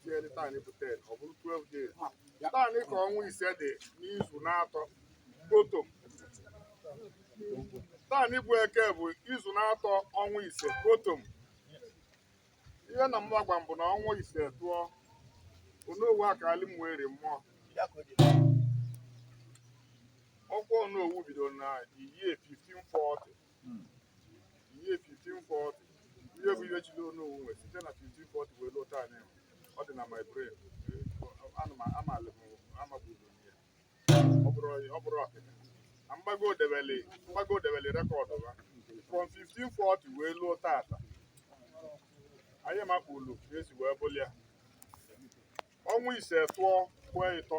tinyere taa bụ 10 ọ bụrụ 12 days taanị ka ọnwa ise dị n'izu n'atọ kpọtọm taanị bụ eke bụ izu n'atọ ọnwa ise kpọtọm ihe na mma gwa m bụ na ọnwa ise tụọ onowu akaalị Umueri mmụọ ọkwa onowu bidoro na year 1540 year 1540 ihe bụ ihe chili onowu nwe site na 1540 wee luo taanị ọ dị na my brain amalị m amagburu ihe ọ bụrụ ọkịka na mgbago debeli mgbago debeli record ha from 1540 wee luo tata anyị makpulu ka e si wee bụlịa ọnwa ise tụọ kwee ịtọ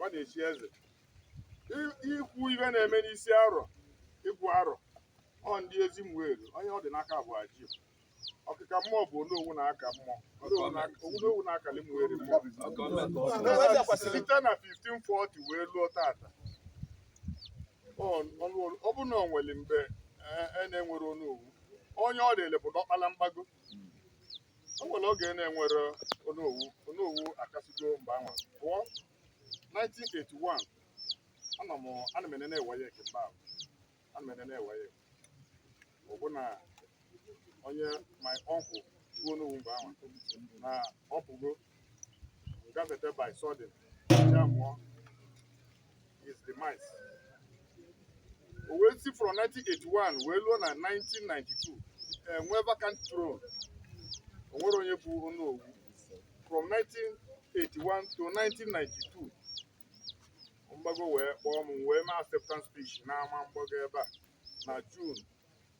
ọ na-echi eze I- ikwu ive na-eme n'isi arọ ịgụ arọ ọ ndị Ezi Umueri onye ọ dị n'aka bụ aji ọkịka mmụọ bụ onowu na-aka mmụọ onowu na- onowu na-akali Umueri mmụọ site na 1540 wee luo tata Ọ- ọnụ- ọ bụ na o nwere mgbe e- e na-enwerọ onowu onye ọ dịrị bụ diọkpala mgbago o nwere oge na-enwerọ onowu onowu akasigo mgbe anwa bụ 1981 ana m ana m enene WAEC mgbe ahụ ana m enene WAEC ọ bụ na onye my uncle bụ onowu mgbe anwa na ọ pụgo gafete by sudden ya bụ his demise o wee si from 1981 wee luo na 1992 e nwee vacant throne o nwerọ onye bụ onowu from 1981 to 1992 mgbago wee kpọọ m wee mee acceptance speech n'ama mgbago ebe a na June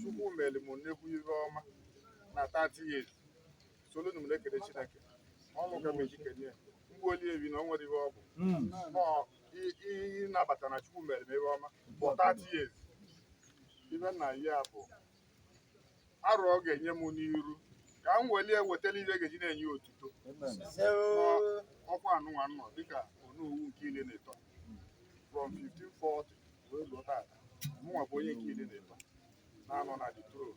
chukwu mere m nnekwu ihe ọma na 30 years solu na m na-ekele chineke ọnụ ka m eji kenye mgbe oli ebi na o nwere ihe ọ bụ ịnabata na Chukwu mere m ihe ọma for 30 years ive na ya bụ arọ ọ ga-enye m n'iru ka m welie wetara ive ga-eji na-enye otuto ọkwa anụnwa m nọ dịka onowu nke ili na ịtọ from 1540 wee luo tata mụnwa bụ onye nke ili na ịtọ na-anọ na the throne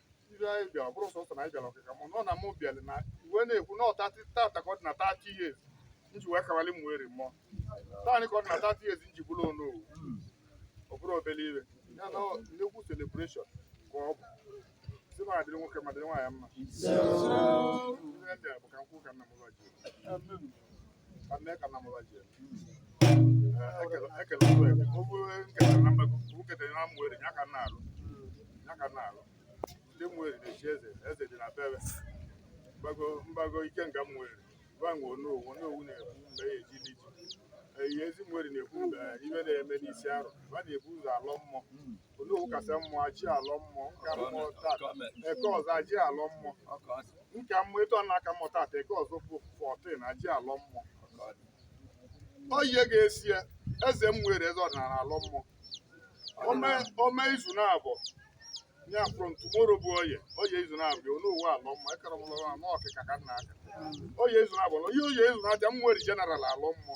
ive anyị bịara ọ bụrụ sọsọ na anyị ja-alọ ọkịka mmụọ nọ na mụ bịara na ive na-ekwu na ọta tata ka ọ dị na 30 years m ji wee kawali Umueri mmụọ taanị ka ọ dị na 30 years m ji bụrụ Onowu ọ bụrụ obele ive ya na nnekwu celebration ka ọ bụ si ma adịrị nwoke ma dịrị nwaanyị mma Ive ndị a bụ ka m kwuo ka nna m va ji Mgbago Ikenga Umueri va nwe Onowu Onowu na-ekwu mgbe ya eji dị ji eyi Ezi Umueri na-ekwu mgbe ive na-eme n'isi arọ va na-ebu ụzọ alọ mmụọ Onowu kasịa mmụọ a ja-alọ mmụọ m ka mmụọ taata Eke ọzọ a ja-alọ mmụọ m ka mmụọ etu ọ na-aka mmụọ taata Eke ọzọ bụ 14 a ja-alọ mmụọ Oye ga-esi ya eze Umueri eze ọdịnala alọ mmụọ o mee o mee izu naabọ ya from tomorrow bụ Oye Oye izu naabọ ya Onowu alọ mmụọ ekere m lọrọ anụ ọkịka ka nna aka Oye izu naabọ na Oye Oye izu na-abịa Umueri general alọ mmụọ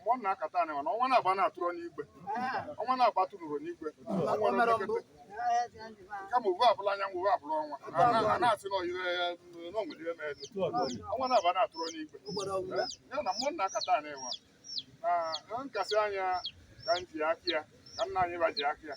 mmụọ m na-aka taa nwa na ọnwa na-agba na-atụrụ n'igwe ọnwa na-agba tụrụrụ n'igwe kama uwe abụla anyanwụ uwe abụla ọnwa a na-asị na ọyịre ya n'onwere ihe mere ọnwa na-agba na-atụrụ n'igwe ya na mmụọ m na-aka taa nwa na nkasị anya ka m ji aka ya ka nna anyị va ji aka ya